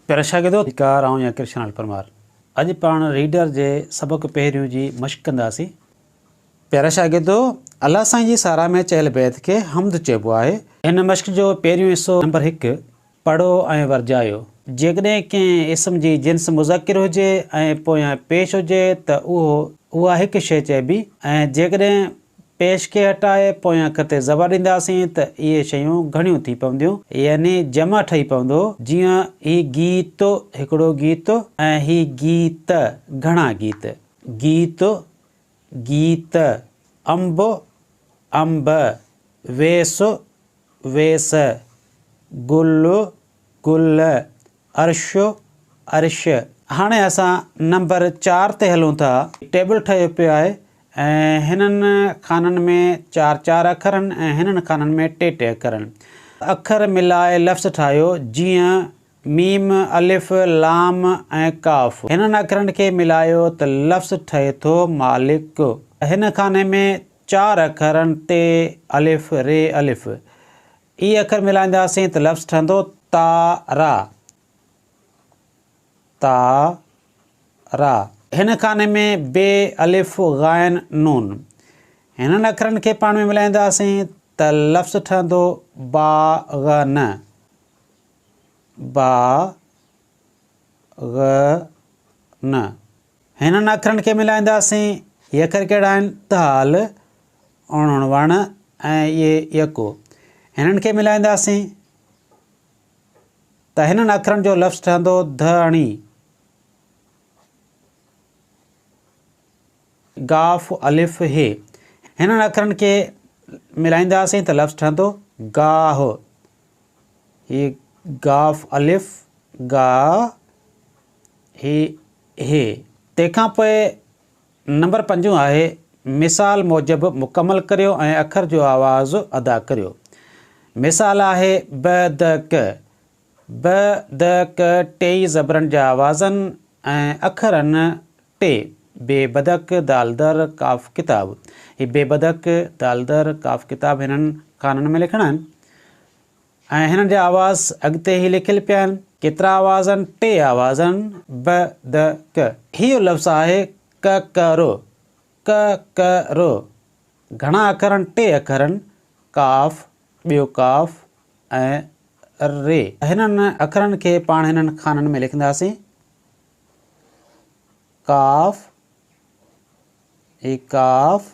پيارا شاگردو! ڌڪار آئون يا ڪرشن لال پرمار اڄ پاڻ ريڊر جي سبق پهريون جي مشق ڪنداسين. پيارا شاگردو! الله سائين جي ساراهه ۾ چيل بيت کي حمد چئبو آهي. هن مشق جو پهريون حصو نمبر هڪ پڙهو ۽ ورجايو. جيڪڏهن ڪنهن اسم جي جنس مذڪر هجي ۽ پويان پيش هجي ته اهو، اها هڪ شيء چئبي ۽ جيڪڏهن. پيش کي هٽائي پوئين اک تي زبر ڏينداسين ته اهي شيون گهڻيون ٿي پونديون يعني جمع ٺهي پوندو جيئن هي گيت، هڪڙو گيت، ۽ هي گيت، گهڻا گيت. گيت، گيت، انب، انب، ويس، ويس، گل، گل، عرش، ارش. هاڻي اسان نمبر چار تي هلون ٿا. ٽيبل ٺهيو پيو آهي ۽ هنن خانن ۾ چار چار اکر آهن ۽ هنن خانن ۾ ٽي ٽي اکر آهن. اکر ملائي لفظ ٺاهيو جيئن، ميم، الف، لام ۽ قاف. هنن اکرن کي ملايو ته لفظ ٺهي ٿو مالڪ. هن خاني ۾ چار اکرن ٽ، الف، ري، الف، اي اکر ملائينداسين ته لفظ ٺهندو تا را، تا را. هن خاني ۾ ب، الف، غائن، نون، هنن اکرن کي پاڻ ۾ ملائينداسين ته لفظ ٺهندو با غ ن، با غ ن. هنن اکرن کي ملائينداسين. هي اکر ڪهڙا آهن؟ تال، اڻ، وڻ ۽ ي، يڪو. هنن کي ملائينداسين ته هنن اکرن جو لفظ ٺهندو ڌ اڻي، ڳاف، الف، هي. هنن اکرن کي ملائينداسين ته لفظ ٺهندو ڳاهه، هي ڳاف، الف، ڳاهه، هي هي. تنهن کان پوء نمبر پنجون آهي، مثال موجب مڪمل ڪريو ۽ اکر جو آواز ادا ڪريو. مثال آهي، ب، د، ڪ. ب، د، ڪ ٽيئي زبرن جا آوازن ۽ اکرن ٽي، ب، بدڪ، د، در، ق، ڪتاب. هي ب، بدڪ، د، در، ق، ڪتاب هنن خانن ۾ لکڻا آهن. ۽ هنن جا آواز اڳتي هي لکيل پيا آهن، ڪيترا آواز آهن؟ ٽي آواز آهن، ب، د، ڪ. هيء لفظ آهي ڪه ڪه رو، ڪه ڪه رو. گهڻا اکر آهن، ٽي اکر آهن، قاف، ٻيو قاف ۽ ر. هنن اکرن کي پاڻ هنن خانن ۾ لکنداسين، قاف، هي قاف،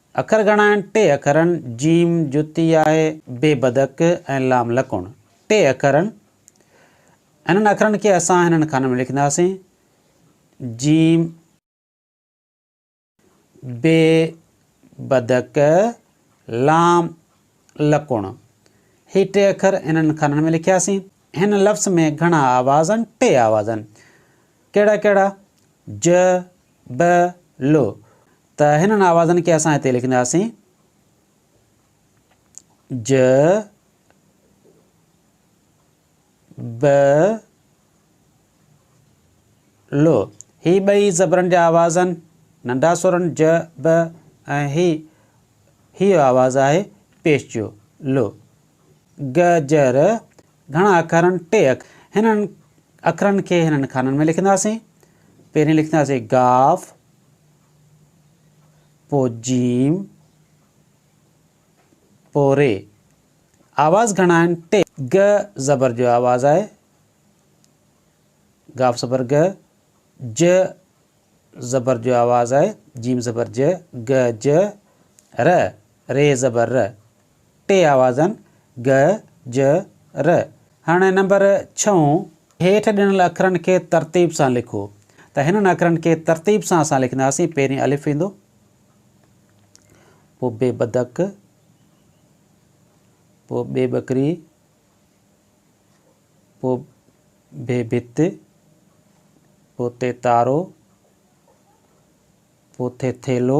اکر گهڻا آهن، ٽي اکرن، جيم، جتي آهي، بي بدڪ ۽ لام لڪڻ، ٽي اکرن، انهن اکرن کي اسان هنن خانن ۾ لکنداسين، جيم، بي بدڪ، لام لڪڻ، هي ٽي اکر انهن خانن ۾ لکياسين. هن لفظ ۾ گهڻا آواز آهن، ٽي آواز آهن، ڪهڙا ڪهڙا، ج، ب ل ته هنن آوازن کي اسان هتي لکنداسين ج ب ل هي ٻئي زبرن جا آواز آهن ننڍا سورن ج ب ۽ هي هيء آواز آهي پيش جو ل گ، ج، ر گهڻا اکر آهن، ٽي اکر. هنن اکرن کي هنن خانن ۾ لکنداسين. پهرين لکنداسين گاف، پوء جيم، پوء ري. آواز گهڻا آهن، ٽي. گ زبر جو آواز آهي، گاف زبر گ، ج زبر جو آواز آهي، جيم زبر ج، گ، ج، ر، ري زبر ر. ٽي آوازن، گ، ج، ر. هاڻي نمبر ڇهون. هيٺ ڏنل اکرن کي ترتيب سان لکو. ته هنن اکرن کي ترتيب سان اسان لکنداسين. پهرين الف ايندو، پوء بي بدڪ، پوء بي ٻڪري، پوء بي ڀت، پوء تي تارو، پوء ٿي ٿيلهو،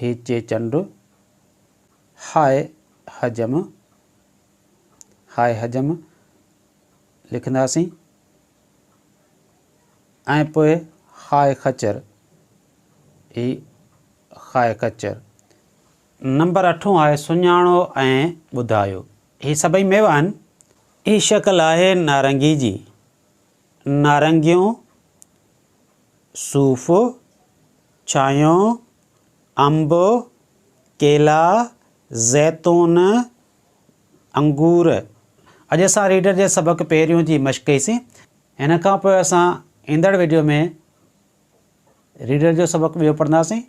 هي چيچنڊ، هاء حجم، هاء حجم لکنداسين ۽ پوء هاء خچر، هي هاء خچر. نمبر اٺون آهي سڃاڻو ۽ ٻڌايو. هي سڀئي ميوا آهن. هي شڪل آهي نارنگي جي. نارنگيون، صوف، ڇانهيو، انب، ڪيلا، زيتون، انگور. اڄ اسان ريڊر جي سبق پهريون جي مشق ڪئي سين. هن کان پوء اسان ايندڙ ويڊيو ۾ ريڊر جو سبق ٻيو پڙهنداسين.